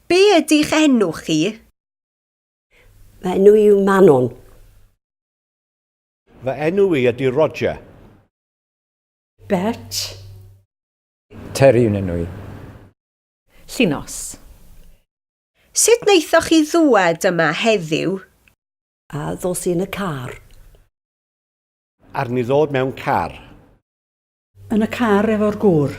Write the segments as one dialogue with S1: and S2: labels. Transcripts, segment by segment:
S1: Be ydy'ch enw chi?
S2: Fy enw i yw Manon.
S3: Fy enw i ydy Roger. Bet.
S4: Terry yw'n enw i.
S5: Llinos.
S1: Sut wnaethoch chi ddŵad yma heddiw? A
S2: ddos i yn y car.
S3: Arni ddod mewn car.
S6: Yn y car efo'r gŵr.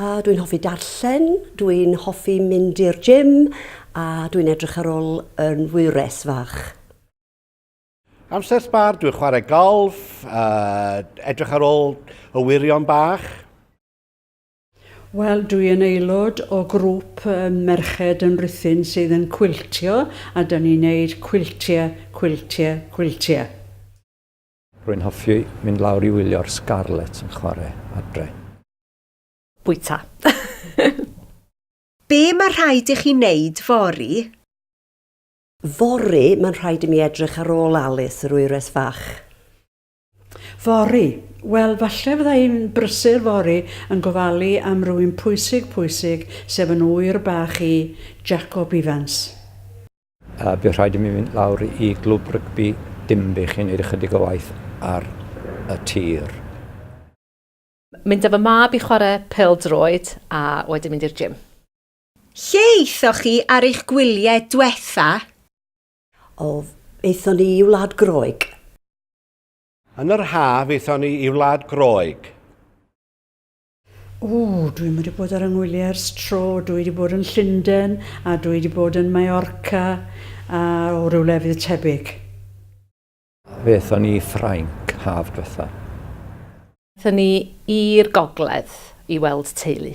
S1: A
S2: dwi'n hoffi darllen, dwi'n hoffi mynd i'r gym a dwi'n edrych ar ôl yn wyres fach. Amser
S3: sbar, dwi'n chwarae golf, uh, edrych ar ôl y wirion bach.
S6: Wel, dwi yn aelod o grŵp merched yn Rhuthun sydd yn cwiltio a da ni'n neud cwiltiau, cwiltiau, cwiltiau.
S4: Rwy'n hoffi mynd lawr i wylio'r Scarlets yn chwarae adre.
S5: Bwyta.
S1: Be mae rhaid i chi wneud fory?
S2: Fory, mae'n rhaid i mi edrych ar ôl Alice, yr wyres fach. Fory,
S6: wel, falle fydda i'n brysur fory yn gofalu am rywun pwysig, pwysig, sef yn ŵyr bach i, Jacob Ifans. A,
S4: bydd rhaid i mi fynd lawr i Glwb Rygbi Dinbych i wneud ychydig o waith ar y tir.
S5: Mynd â fy mab i chwarae pêl-droed a wedyn mynd i'r gym. Lle
S1: aethoch chi ar eich gwyliau dwetha? O,
S2: aethon ni i Wlad Groeg.
S3: Yn yr haf aethon ni i Wlad Groeg.
S6: Ww, dwi ddim wedi bod ar 'y ngwyliau ers tro, dwi wedi bod yn Llunden a dwi wedi bod yn Mallorca a o ryw lefydd tebyg.
S4: Aethon ni i Ffrainc haf dwetha. Aethon ni
S5: i'r gogledd i weld teulu.